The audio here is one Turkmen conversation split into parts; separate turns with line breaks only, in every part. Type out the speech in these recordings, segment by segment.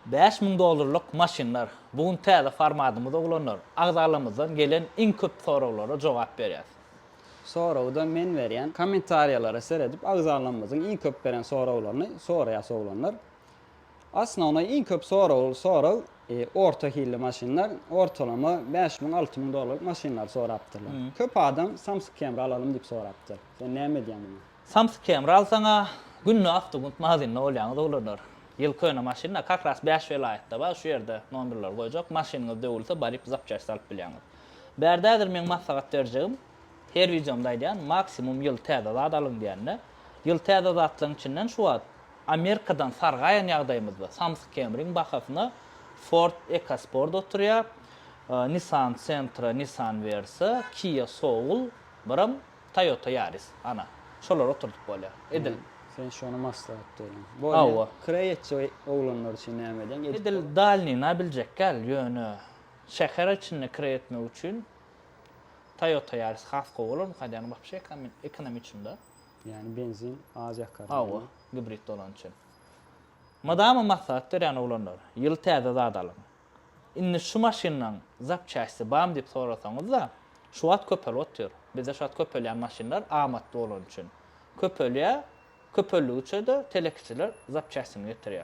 Bäş müň dollarlyk maşynlar, bu gün täze formadymyz oglanlar, agzalarymyzdan gelen iň köp soraglara jogap berýäs. Soragy-da
men berýän. Kommentariýalara seredip agzalarymyzyň iň köp beren soraglaryny soraýas oglanlar. Osnownoý iň köp soragly sorag orta hilli maşynlar, ortalama bäş müň, alty müň dollarlyk maşynlary sorapdyrlar. Köp adam Samsung Camry alalymy diýip sorapdyr. Sen näme edýäň muňa? Samsyk Kemral
saňa günde awtogunt magazinde bolýaňyz oglanlar. Ýyl köne maşynda kakras bäş welaýatda bar şu ýerde nomberleri goýjak maşynyňyz döwülse baryp zapçaсть alyp bilýäňiz. Bärde häzir meň maslahat berjegim her wideomda aýdýan maksimum ýyl täze zat alyň diýende ýyl täze zatlaryň içinden şu wagt Amerikadan sargaýan ýagdaýymyzda Samsyk Kemriň bahasyna Ford Ekosport oturýar Nissan Sentra Nissan Versa Kia Soul biram Toyota Yaris, ana, şolary oturdyp bolýar. Edil. Sen şony
maslahat berýäň. Hawa. Kireý
etjek
oglanlar üçin näme edýäň? Edil dalnyna
biljekgäl, ýöne şäher içinde kireý etmek üçin Toyota Yaris has gowy bolarmyka diýýän, wapşe ekonomiçnda. Ýani benzin
az ýakar. Hawa, gibrid
bolany üçin. Madama maslahat berýän oglanlar, ýyl täze zat alyň. Indi şu maşynlaň zapçasti bamy diýip sorasaňyzda, şu wagt köpelip otyr. Bizde şu wagt köpelýän maşynlar amatly bolany üçin köpelýär. Köpeldigi üçe-de telekeçiler zapçastini getirýär.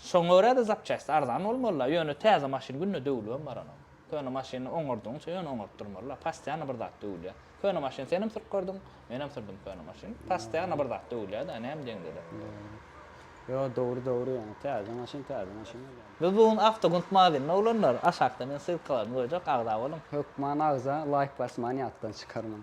Şoňa görä-de zapçasti arzan bolmaly-la, ýöne täze maşyn günde döwülibem baranok. Köne maşyny oňardygyňça ýöne oňaryp durmaly-la, postoýanno bir zat döwülýär. Köne maşyn senem sürüp gördüň, menem sürdüm köne maşyn. Postoýanno bir zat döwülýär-de, näme deňde-de. Ýo,
dogry, dogry ýöne täze maşyn, täze maşyn bolýar. Biz bu gün
Awtogunt magazynynda oglanlar. Aşakda men ssylkalaryny goýjak,
agza
boluň.
Hökman
agza, laýk
basmany
ýatdan
çykarmaň.